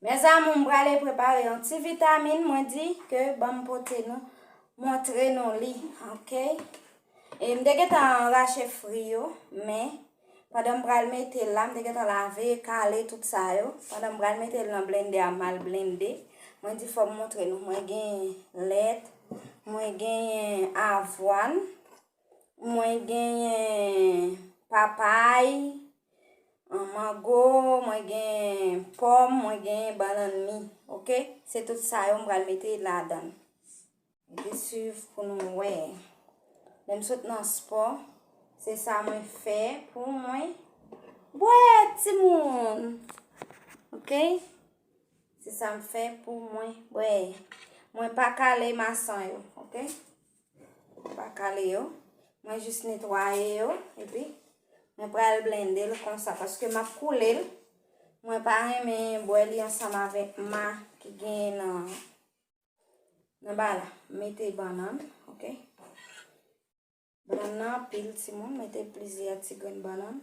Mes amour m prale prepare yon ti vitamine mwen di ke banm pote nou montre nou li ok e m te gentan rache fri yo men pandan m pral mete la m te gentan lave kale tout sa yo pandan m pral mete l nan blende a mal blende mwen di fòm montre nou mwen gen lèt mwen gen avwan mwen gen papay An mango, mwen gen pòm, mwen gen bannan mi. Ok? Se tout sa yo m pral mete ladan. Mete suiv pou nou wè. Lè m sot nan spò, se sa mwen fè pou mwen. Bwè ti moun! Ok? Se sa m fè pou mwen. Bwè. Mwen pa kale mason yo. Ok? Mwen pa kale yo. Mwen jis netwaye yo. E pi, mwen pral blende l konsa. Paske m ap koule l. Mwen pa renmen bwè li ansanm avèk ma ki gen nan. Nan ba la. Mete bannan. Ok. Bannan nan pil ti moun. Mete plizyè ti grenn bannan.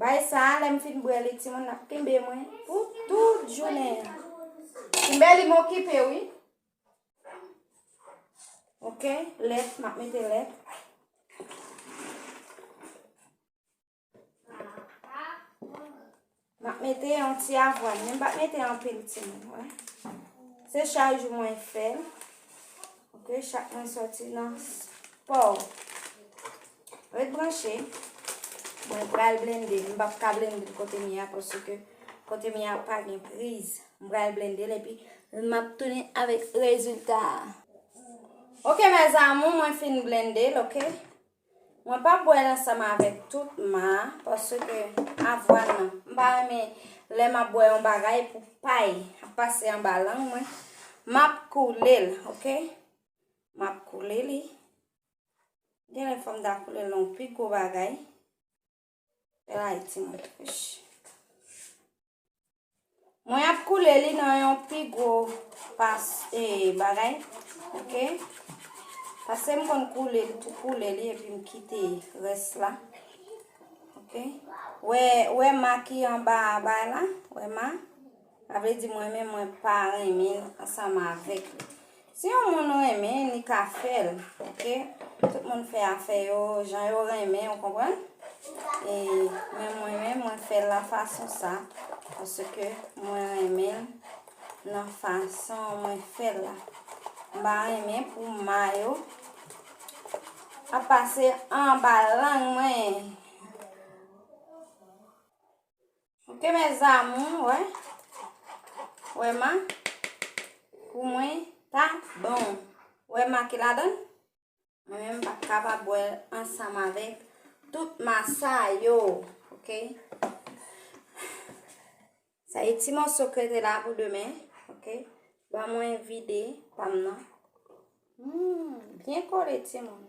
Bay sa, lèm fin bwè li ti moun ap kenbe mwen pou tout jounen. Kenbe li mou kipe wi. Ok, lèt, map mete lèt. Mwen ap mete yon ti avwan. Mwen ap mete yon pil ti mwen. Se chak jou mwen fè. Ok, chak mwen soti nan sport. Ret branche. Mwen pral blende. Mwen ap ka blende kote mi a. Pwese ke kote mi a pa gen priz. Mwen pral blende. Epi mwen ap tounen avèk rezultat. Ok, mè zanmou mwen fin blende. Ok. Mwen pa bwèl ansanm avèk tout ma paske avwàn nan m pa renmen lè map bwè yon bagay pou pay ap pase anba lang mwen map koule l ok map koule li genlè fòm ta koule l nan yon pi gwo bagay. Ray ti moun kouch. Mwen ap koule li nan yon pi gwo pas e bagay. Ok. Pase m kon koule li tou koule li epi m kite res la. Ok. Wè, wè ma ki an ba a bay la. Wè ma. Sa vle di m renmen mwen pa renmin ansanm avek li. Si yon moun renmen li ka fel ok. Tout moun fe afe yo jan yo renmen ou konprann. E men mwen men mwen fel la fason sa. Paske mwen renmen nan fason mwen fel la. M pa renmen pou ma yo. A pase anba lang mwen. Ok mes amours, wè. Wè ma. Pou mwen pa bon. Wè ma ki la donne. Mwen menm pa kapab bwè ansanm avèk tout masa yo. Ok. Sa yi ti mòso krete la pou demen. Ok. Ba mwen vide pam nan. Hmm. Byen kole ti moun.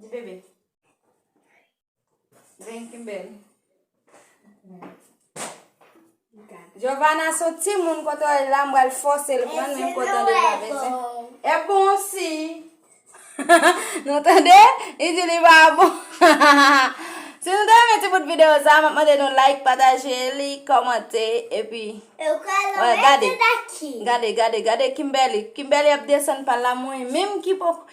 Di bebe. Vin kimbel. Giovanna son ti moun kote wè la mwen al fòse l pran men kote de la bese. E bon si. nou tande? I di li ba bon. si nou tande men ti bout video sa, mwen mande nou like, pataje li, komante, epi. E ou ka lò mwen te daki. Gade, gade, gade Kimberly. Kimberly ap desen pa la mwen. Menm ki poko.